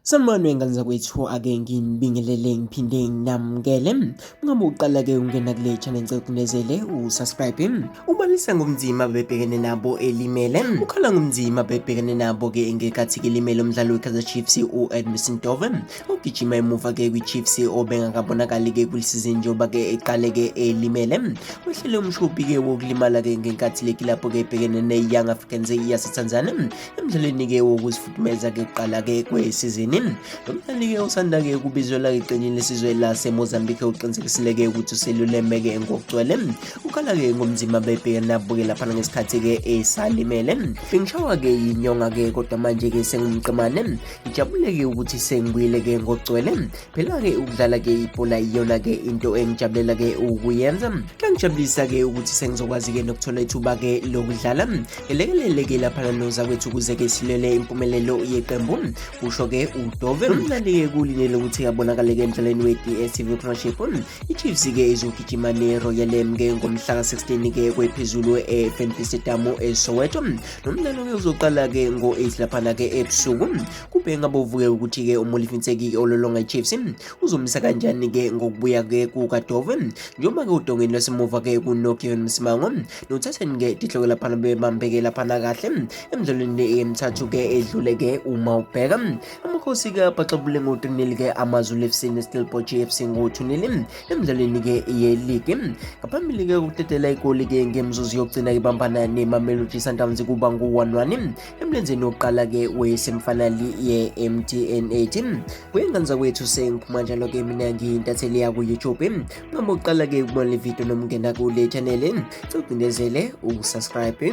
Sanibonani ngane zakwethu ake nginibingelele ngiphinde nginamukele ngabe uqala-ke ungena kule channel ngicela ukunezele usubscribe ubalisa ngobunzima bebhekene nabo elimele ukhala ngobunzima bebhekene nabo-ke ngekathi-ke elimele umdlalo we-kaizer chiefs u-edmison dove ogijima emuva-ke kwi-chiefs obengakabonakali-ke kulisizini njengoba-ke eqale-ke elimele wehlele umshubhi-ke wokulimala-ke ngenkathi leki lapho-ke ebhekene ne-young africans yasetanzania emdlalweni-ke wokuzifudumeza-ke kuqala-ke kwesizini lo mdlali-ke usanda-ke ukubizelwa iqenjini lesizwe lasemozambique uqinisekisile-ke ukuthi useluleme-ke ngokugcwele ukhala-ke ngomzimba bebhekanabuke laphana ngesikhathi-ke esalimele bengishawa-ke yinyonga-ke kodwa manje-ke sengumqemane ngijabule-ke ukuthi sengibuyile-ke ngokugcwele Phela-ke ukudlala-ke ibhola iyona-ke into engijabulela-ke ukuyenza kuyangijabulisa-ke ukuthi sengizokwazi-ke nokuthola ithuba-ke lokudlala ngelekelele-ke laphana nozakwethu ukuze-ke silwele impumelelo yeqembu kusho-ke udove umncane-ke kulinele ukuthi abonakale-ke emdlalweni we-dstv premiership ichiefs-ke izogijima ne-royalm-ke ngomhla ka-16-ke kwephezulu e-fnb stadium esoweto nomdlalo-ke uzoqala-ke ngo-8 laphana-ke ebusuku Kubhenga bovuke ukuthi-ke uMolifintseki-ke ololonga iChiefs uzomisa kanjani-ke ngokubuya-ke kukaDove njengoba-ke udongeni lwasemuva-ke kunoKevin Msimango nothatheni-ke tihloko laphana bebambeke laphana kahle emidlalweni emithathu-ke edlule-ke uma ubheka amakhosi-ke abaxabule ngo-3-ke amazulu FC neStellenbosch FC ngo-2-0 emidlalweni-ke yeligi ngaphambili-ke ukutetela igoli-ke ngemizuzu yokugcina ibambana nemamelodi sundowns kuba ngu-1-1 emlenzeni wokuqala-ke wesemfanali ye-mtn8 kuyenganza kwethu sengiphuma njalo-ke mina ngiyintatheli yaku-youtube noma ukuqala-ke ukubona le video noma ungena kule chanele cogcindezele ukusubscribe